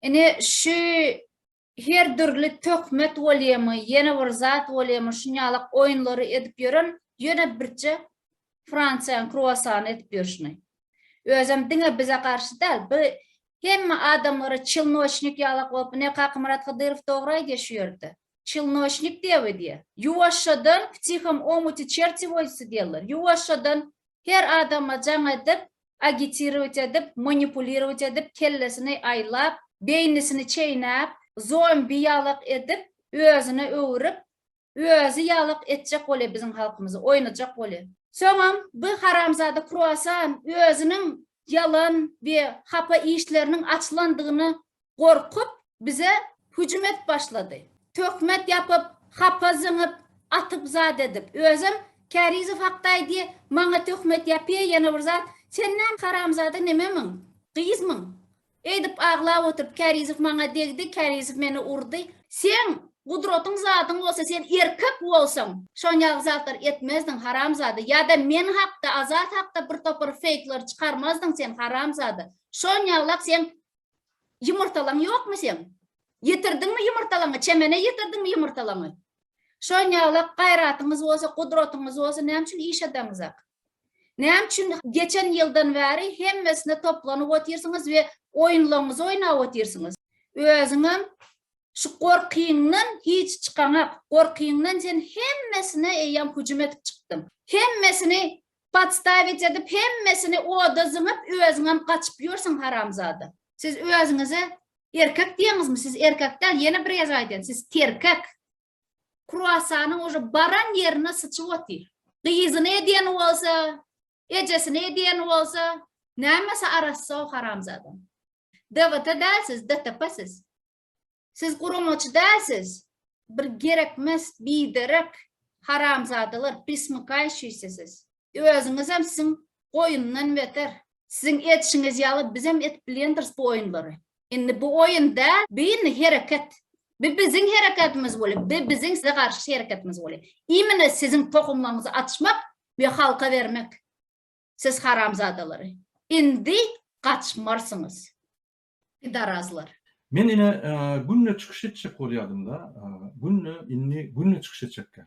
Ine şu her dürli töhmet bolýamy, ýene bir zat bolýamy, şunýalak oýunlary edip ýören ýöne birje Fransiýanyň kruasany edip ýörşüni. Özem diňe bize garşy däl, bu hemme adamlara çilnoçnik ýalak bolup, ine Kakamyrat Hydyrow dogry aýdýar şu ýerde. Çilnoçnik diýýär we diýýär. Ýuwaşjadan ptihom omuti çerti voýsy diýýärler. Ýuwaşjadan her adama jaň edip, agitirować edip, manipulirować edip, kellesini aýlap, beýnisini çeýnäp, zombi ýalak edip, özüne öwürip, özi ýalak etjek bolýa biziň halkymyzy, oýnajak bolýa. Soňam bu haramzada kruasan özüniň ýalan we hapa işleriniň açylandygyny gorkup, bize hüjüm edip başlady. Töhmet ýapyp, hapa zyňyp, atyp zat edip. Özem Kärizow hakda aýdy, maňa töhmet ýapy, ýene bir zat. Sen näme, haramzada nememiň? Gyzmyň? Eýdip aglap oturyp, Kärizow maňa degdi, Kärizow meni urdy. Seň gudratyň zadyň bolsa, sen erkek bolsaň, şonýaly zatlar etmezdiň, haramzada. Ýa-da men hakda, Azat hakda birtopar feýkleri çykarmazdyň sen, haramzada. Şonýalap seň Ýumurtalaň ýokmy seň? Ýetirdiňmi ýumurtalaňy, çemene ýetirdiňmi ýumurtalaňy? Şonýalak gaýratyňyz bolsa, gudratyňyz bolsa näme üçin iş edeňizak? Näme üçin geçen ýyldan bäri hemmesine toplanyp otyrsyňyz we oýunlaňyzy oýnap otyrsyňyz? Özüňem şu gorkyňdan hiç çykaňak, gorkyňdan sen hemmesine eýýäm hüjüm edip çykdyň. Hemmesini Podstavit edip hemmesini oda zyňyp özüňem gaçyp ýörsüň haramzada. Siz özüňize erkek diýeňizmi siz erkek däl ýene bir gezek aýdýan siz terkek. Kruasanyň uje baran ýerine syçyp otyr. Gyzyny edýän bolsa, ejesini edýän bolsa, nämesi arassa o haramzadaň. DVT däl siz, DTP siz. Siz guramaçy dälsiz bir gerekmes biderek haramzadalar prismykaýşiýsi siz. Özüňizem siziň goýundan beter. Siziň edişiňiz ýaly bizem edip bilýändiris bu oýunlary. Indi bu oýun däl, bi indi hereket. Bi biziň hereketimiz bolýar, bi biziň size garşy hereketimiz bolýar. Imine siziň tohumlaryňyzy açmak we halka bermek. Siz haramzadalary. Indi gaçmarsyňyz. Pidarazlar. Men ine günde çykyş etjek bolýadymda, günde indi günde çykyş etjekkä.